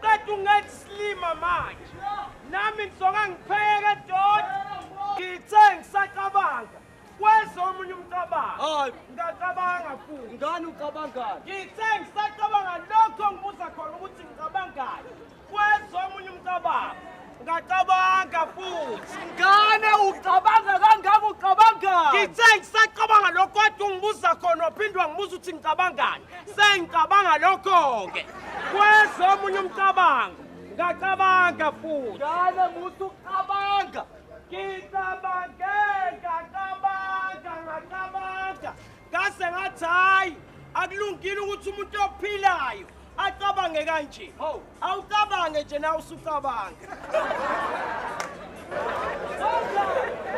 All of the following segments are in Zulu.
Kade ungenza isilima manje. Nami ngizoka ngipheke doti. Ngithe ngisacabanga. Kwezwa omunye umcabango. Hayi. Ngacabanga futhi. Ngani ucabangani? Ngithe ngisacabanga lokho ngibuza khona ukuthi ngicabangani. Kwezwa omunye umcabango. Ngacabanga futhi. Ngane ucabanga kangaka ucabangani? Ngithe ngisacabanga lokho kade ungibuza khona waphindwa ngibuza ukuthi ngicabangani. Sengicabanga lokho-ke. Kweza omunye umcabango. Ngacabanga futhi. Ngane muthi ucabanga. Ngicabange ngacabanga ngacabanga. Ngase ngathi hayi akulungile ukuthi umuntu ophilayo acabange kanje. Hawu, awucabange nje na usucabanga.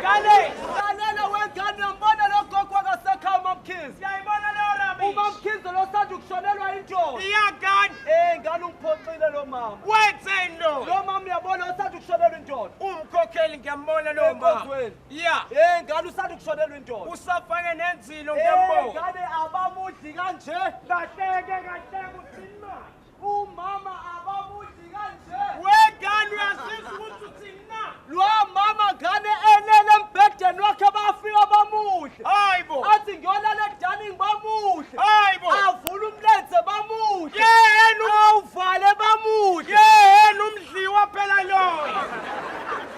Kale, lalela wengane uyambona lo gogo akasekhaya uMamkhize. Siyayibona leyo rubbish. UMamkhize lo sanda ukushonelwa indoda. Iyagani. Eh, ngane ungiphoxile lo mama. Wenzeni lo? Lo mama uyabona usanda ukushonelwa indoda. Umkhokheli ngiyambona lo mama. Yeah. Eh ngane usanda kushonelwa indoda. Usafake nenzilo eh, ngempoko. Ngane abamudli kanje. Kahleke kahleke uthini manje? Umama abamudli kanje. Wegane uyasizwa ukuthi uthini na? Lo mama ngane elele embhedeni wakhe bafika bamudle. Hayibo. Athi ngiyolala edaning bamudle. Hayibo. Avula umlenze bamudle. Yena uvale bamudle. Yena umdliwa phela loyo.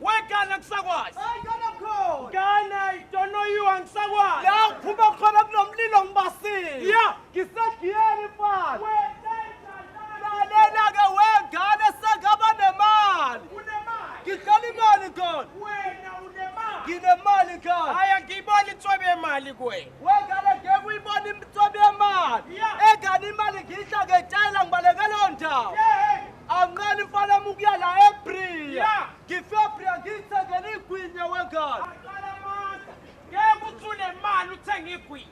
Wegana kusakwazi. Hayi kana khona. Kana idonoyiwa ngisakwazi. La uphuma khona kunomlilo ngibasile. Yeah. Ngisegiyeni mfana. Lalela ke wegane sengaba nemali. Unemali. Ngidlala imali khona. Wena unemali. Nginemali khona. Haya ngiyibona intswebe yemali kuwe. Wegane ngeke uyibona intswebe yemali. Yeah. Egane imali ngidla ngetshayela ngibalekela ondawo. Yeah. Anqeni mfana amukuya la eBria. Ngife eBria ngithengele igwinya wengane. Aqala amandla. Ngeke uthule imali uthenge igwinya.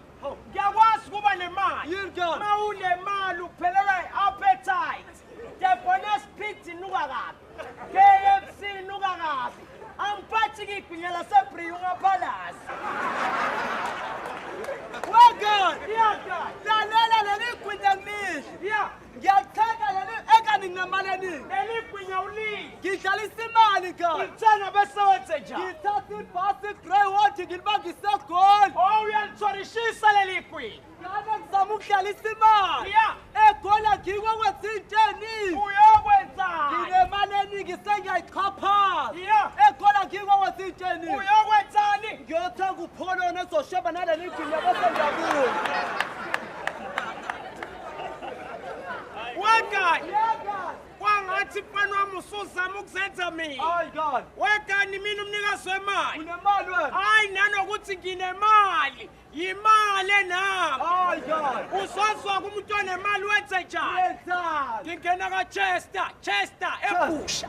Ngiyakwazi ukuba nemali. Yini kanti? Uma unemali uphelela i-appetite. The bonus pit inuka kabi. KFC inuka kabi. Angiphathi ngigwinya laseBria ungaphalazi. Wengane. Iyagana. Lalela leli igwinya ngilidle. Yeah. Ngiyalithenga leli eka ningamane nini? Eligwinya ulimi. Ngidlalisa imali ka. Ngithenga bese wenze njani? Ngithatha ibhasi grey water ngilibangise egoli. Oh uyalitshorishisa leli gwinya. Ngane ngizama ukudlalisa imali. Yeah. Egola ngikwe kwenza into eningi. Uyokwenzani? Nginemali eningi sengiyayichaphaza. Yeah. Egola ngikwe kwenza into eningi. Uyokwenzani? Ngiyothenga upholo nezosheba naleli gwinya bese ngiyabuya. wekani kwangathi mfana wami usuzama ukuzenza mina Hayi God. wekani mina umnikazi wemali Unemali wena. hayi nanokuthi nginemali yimali enami Hayi God. uzozwa kumuntu onemali wenze njani Wenzani? ngingena kachester chester ebusha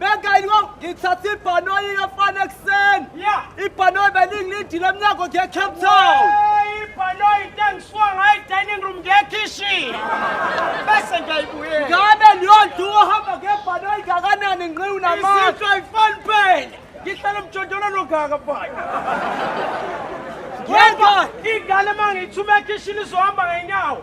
Bengayilwa ngithatha ibhanoyi yefana ekuseni. Yeah. Ibhanoyi belingilindile emnyango ngiye Cape Town. Ibhanoyi tengiswa ngayi dining room ngiye kitchen. Bese ngiyayibuyela. Ngabe liyonto uhamba ngebhanoyi ngakanani ngiqiwu namanje. Isitho ifani phela. Ngihlala emjondolo nogaka phela. Yedwa ingane mangiyithuma ekishini izohamba ngenyawo.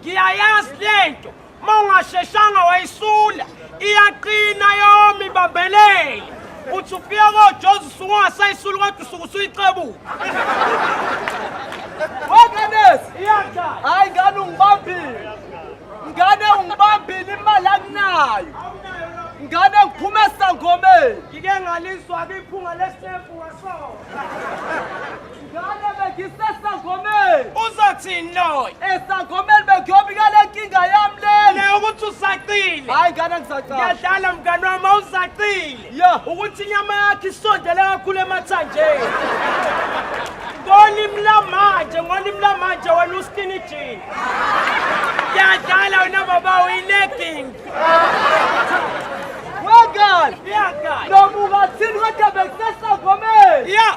ngiyayazi lento mawungasheshanga wayisula iyaqina yomi bambelele uthi ufika kojozi usuke ungasayisuli kodwa usuke usuyixebuka wekanesi hayi ngane ungibambile ngane ungibambile imali akunayo ngane ngiphume esangomeni ngike ngalizwa-ke iphunga lesefu ngasona Ngane bengisesangomeni. Uzothini loyo? Esangomeni bengiyobika le nkinga yami lena. Le ukuthi usaqile. Hayi ngane ngisaqala. Ngiyadlala mngane wami awusaqile. Yo, ukuthi inyama yakhe isondele kakhulu emathanjeni. Ngolimi lamanje, ngolimi lamanje wena uskini jean. Ngiyadlala wena baba uyilegging. Wengane. Ngiyadlala. Nomuka thini kodwa bengisesangomeni. Yeah.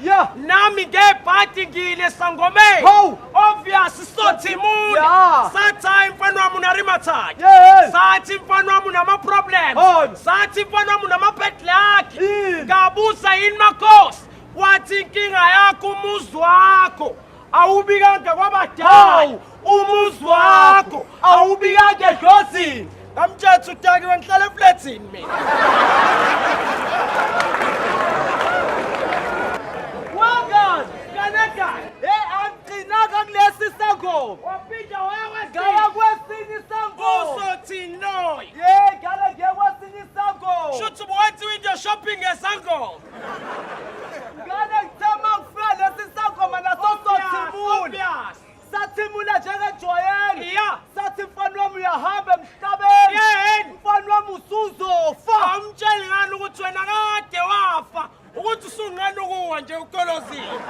Yeah. Nami ngebhadi ngile sangomeni. Ho. Obvious sothi muni. Yeah. Sathi hayi mfana wami unarimathathi. Yes. Sathi mfana wami unama problems. Oh. Sathi mfana wami unama bad luck. Mm. Ngabuza yini makhosi? Wathi inkinga yakho umuzi wakho. awubikanga kwabadala umuzi wakho awubikanga edlozini ngamtshetha udakiwe ngihlala eflethini mina wangani kanegani hey angigcinanga kulesi sangoma waphinda wayawegaya kwesinye isangoma uzothini loyo ye ngale ngekwesinye isangoma shuthi ubuwenziwa into shopping esangoma Ngane ngithema ngifika lesi sangoma naso sothimula. Sathimula njengejwayelo. Yeah. Sathi mfana wami uyahamba emhlabeni. Yeheni. Mfana wami usuzofa. Awumtsheli ngani ukuthi wena kade wafa ukuthi usunqena ukuwa nje ukolozini.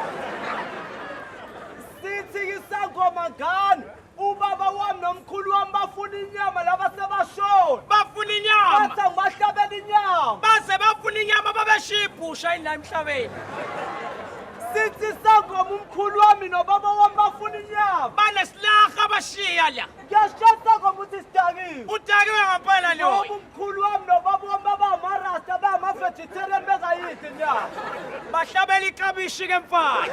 Sithi isangoma ngane. Ubaba wami nomkhulu wami bafuna inyama laba sebashona. Bafuna inyama. Bathi angibahlabela inyama. Baze bafuna inyama babeshiya ibhusha yini la emhlabeni. Sithi sangoma umkhulu wami nobaba wami bafuna inyama. Banesilaha abashiya la. Ngiyashaya sangoma uthi sidakiwe. Udakiwe ngampela loyo. Mkhulu wami nobaba wami babamarasta bangama-vegetarian bengayidli inyama. Bahlabela iklabishi ke mfana.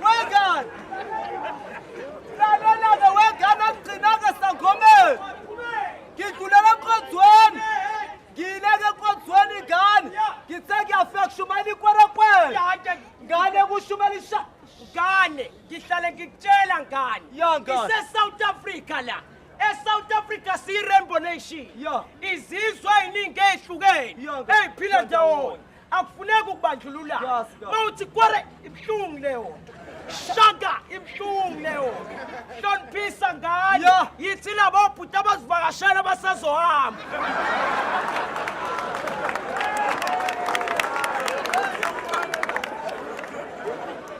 Wengane! Lalela-ke wengane akugcinanga sangomeni. Ngidlulela enkonzweni. Ngiyileke enkonzweni ingane. Ngithe ngiyafika kushumayela ikwerekwele. Yake Ngane kushumela isha. ngane, ngihlale ngikutshela ngane. Ya ngane. Ise South Africa la. eSouth Africa siyi-rainbow nation Yeah. izizwe eziningi ezihlukene Yeah, nkosi. eziphila ndawonye akufuneki ukubandlulula Yes, nkosi. mawuthi kware ibuhlungu leyo nto shaka ibuhlungu leyo nto hloniphisa ngane Yeah. yithi labo bhuti abazivakashela abasazohamba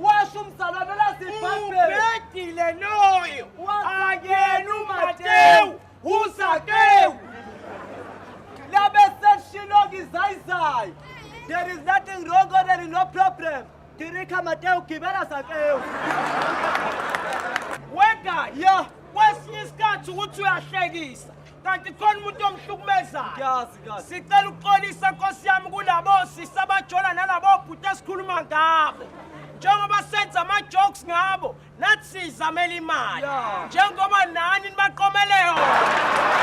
washo umzalwane lazibhabheleubhedile loyo akena umatewu uzakewu labeseshiloka izayizayo there is nothing wrong or there is no problem dirikha matewu gibela zakewu wega ya kwesinye isikhathi ukuthi uyahlekisa kanti khona umuntu omhlukumezayo sicela ukuxolisa nkosi yami kulabo sisi abajola nalabo bhuti esikhuluma ngabo njengoba senza ama-jokes ngabo nathi siyizamela imali njengoba nani nibaqomele yona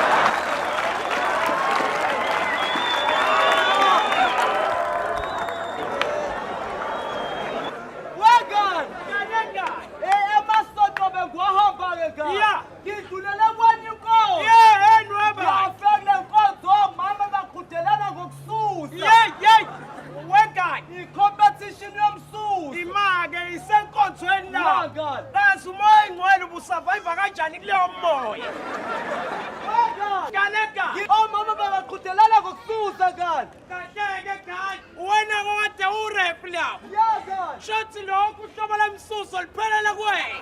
Ngidlulela kwanye inkomo. Yeah, and weba. Yafela inkonzo omama bagudelana ngokususa. Yeah, yeah. Wegani. I-competition yomsusa. Imake isenkonzweni la. Wegani. Kazi umoya ingcwele ubusurvive kanjani kuleyo moya. Wegani. Kaneka. Omama babagudelana ngokususa kanti. Kahleke kanti. Wena kade urep lapho. Yeah, kanti. Shothi lokhu uhlobo lomsuso liphelele kwena.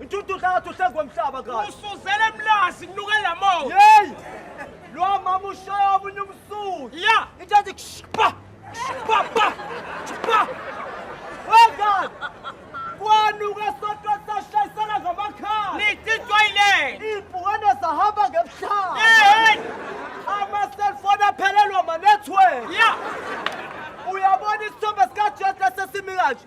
Intututha ngathi uhlengwe emhlaba kahle. Usuzele emlazi kunuke lamoya. Hey! Lo mama ushaya omunye umsuku. Yeah. Into ethi kushipa. Kushipa pa. Kushipa. Wengane. Kwanuka sodwa sashayisana ngamakhala. Nithi toilet. Ibhukane sahamba ngemhlaba. Hey! Ama cellphone aphelelwa ma network. Yeah. Uyabona isithombe sikaJesu esesimi kanje.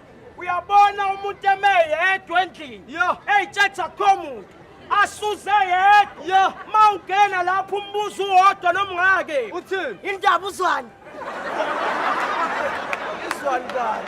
uyabona umuntu eme yedwa endlini eyitshetha kho muntu asuze yedwa ma ungena lapho umbuzo uwodwa nomngake uthini indaba uzwani izwani kani